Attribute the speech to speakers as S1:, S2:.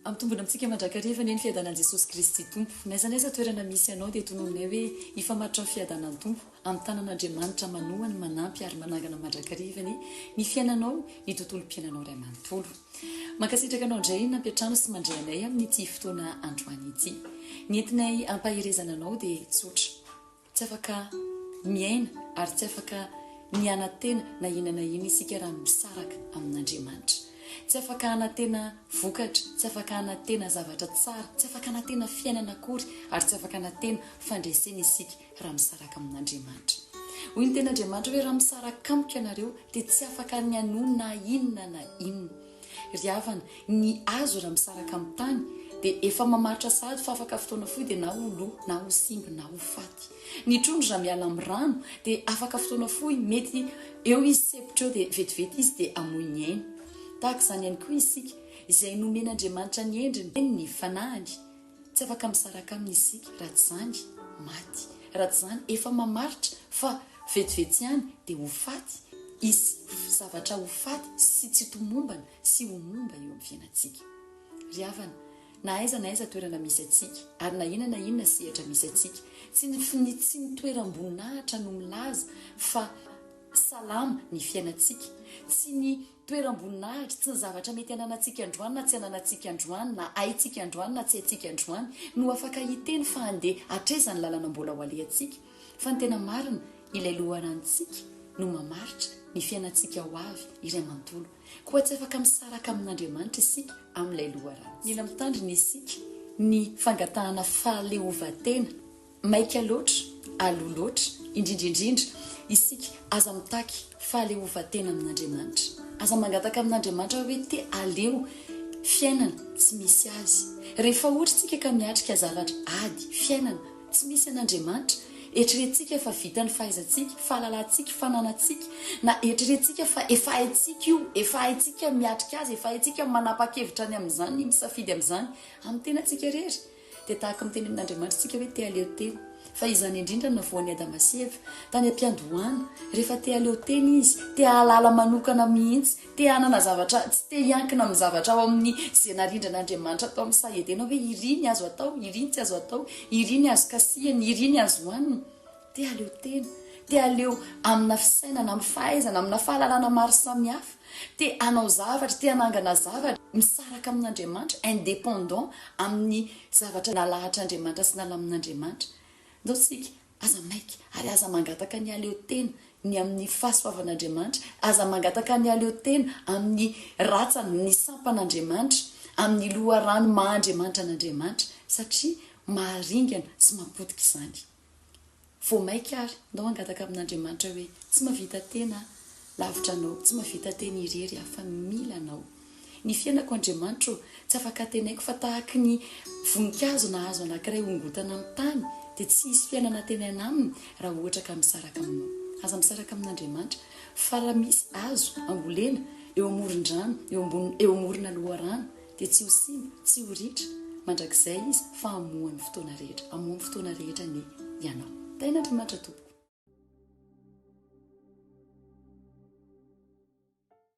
S1: Ampitombina amintsika mandrakariva anie ny fiadanan'i Jesosy Kristy Tompo. N'aiza n'aiza toerana misy anao dia tonononay hoe hifamaritra amin'ny fiadanan'ny Tompo. Amin'ny tanan'Andriamanitra manohany manampy ary manangana mandrakariva anie ny fiainanao, ny tontolom-piainanao iray manontolo. Mankasitraka anao indray nampiantrano sy mandray anay amin'ity fotoana androany ity. Ny entinay hampaherezana anao dia tsotra. Tsy afaka miaina ary tsy afaka ny hanantena na inona na inona isika raha misaraka amin'Andriamanitra. Tsy afaka hanantena vokatra, tsy afaka hanantena zavatra tsara, tsy afaka hanantena fiainana akory ary tsy afaka hanantena fandresena isika raha misaraka amin'Andriamanitra. Hoy ny Tenin'Andriamanitra hoe, Raha misaraka amiko ianareo, dia tsy afaka ny hanohy na inona na inona. Ry havana, ny hazo raha misaraka amin'ny tany dia efa mamaritra sahady fa afaka fotoana fohy dia na ho lo, na ho simba, na ho faty. Ny trondro raha miala amin'ny rano dia afaka fotoana fohy, mety eo izy sepotra eo dia vetivety izy dia hamoy ny ainy. Tahaka izany ihany koa isika, izay nomen'Andriamanitra ny endriny, ny fanahiny, Tsy afaka misaraka aminy isika raha tsy izany maty, raha tsy izany efa mamaritra fa vetivety ihany dia ho faty, hisy zavatra ho faty sy tsy tomombana sy ho momba eo amin'ny fiainantsika. Ry havana, na aiza na aiza toerana misy antsika, ary na inona na inona sehatra misy antsika, tsy ny fni tsy ny toeram-boninahitra no milaza fa salama ny fiainantsika, tsy ny. Toeram-boninahitry tsy ny zavatra mety ananantsika androany na tsy ananantsika androany, na haintsika androany na tsy haintsika androany, no afaka hiteny fa handeha hatraiza ny lalana mbola ho alehantsika, fa ny tena marina, Ilay Loharanontsika no mamaritra ny fiainantsika ho avy iray manontolo. Koa tsy afaka misaraka amin'Andriamanitra isika amin'ilay loharano. Mila mitandrina isika ny fangatahana fahaleovantena. Maika loatra, aloha loatra, indrindra indrindra, isika, aza mitaky fahaleovantena amin'Andriamanitra. Aza mangataka amin'Andriamanitra hoe te aleo fiainana tsy misy Azy. Rehefa ohatra isika ka miatrika zavatra, ady, fiainana, tsy misy an'Andriamanitra, eritreretintsika fa vitan'ny fahaizantsika, fahalalantsika, fananantsika, na eritreretintsika fa efa haintsika io, efa haintsika miatrika azy, efa haintsika manapa-kevitra ny amin'izany, misafidy amin'izany, amin'ny tenantsika irery. dia tahaka miteny amin'Andriamanitra isika hoe te haleo tena, fa izany indrindra no navoan'i Adama sy Eva tany am-piandohana, rehefa te haleo tena izy, te hahalala manokana mihitsy, te hanana zavatra, tsy te hiankina amin'ny zavatra ao amin'ny izay narindran'Andriamanitra tao amin'ny saha Edena hoe iry ny azo atao, iry ny tsy azo atao, iry ny azo kasihina, iry ny azo hohanina. Dia aleo tena, dia aleo amina fisainana, amin'ny fahaizana, amina fahalalana maro samihafa, te hanao zavatra, te hanangana zavatra, misaraka amin'Andriamanitra, indépendant amin'ny zavatra nalahatr'Andriamanitra sy nalamin'Andriamanitra. Ndao isika, aza maika, ary aza mangataka ny aleo tena, ny amin'ny fahasoavan'Andriamanitra, aza mangataka ny aleo tena amin'ny ratsany, ny sampan'Andriamanitra, amin'ny loharano maha Andriamanitra an'Andriamanitra, satria maharingana sy mapotika izany. Vao maika ary, ndao hangataka amin'Andriamanitra hoe, tsy mahavita tena aho, lavitra Anao, tsy mahavita tena irery aho, fa mila Anao. Ny fiainako Andriamanitra ô, tsy afaka teneniko fa tahaky ny voninkazo nahazo anankiray hongotana amin'ny tany, dia tsy hisy fiainana hatenena aminy raha ohatra ka misaraka aminao. Aza misaraka amin'Andriamanitra, fa raha misy azo ambolena eo amoron-drano, eo ambony, eo amorona loharano, dia tsy ho simba, tsy ho ritra, mandrakizay izy, fa hamoha ny fotoana rehetra, hamoha ny fotoana rehetra anie ianao. Tahin'Andriamanitra tompoko.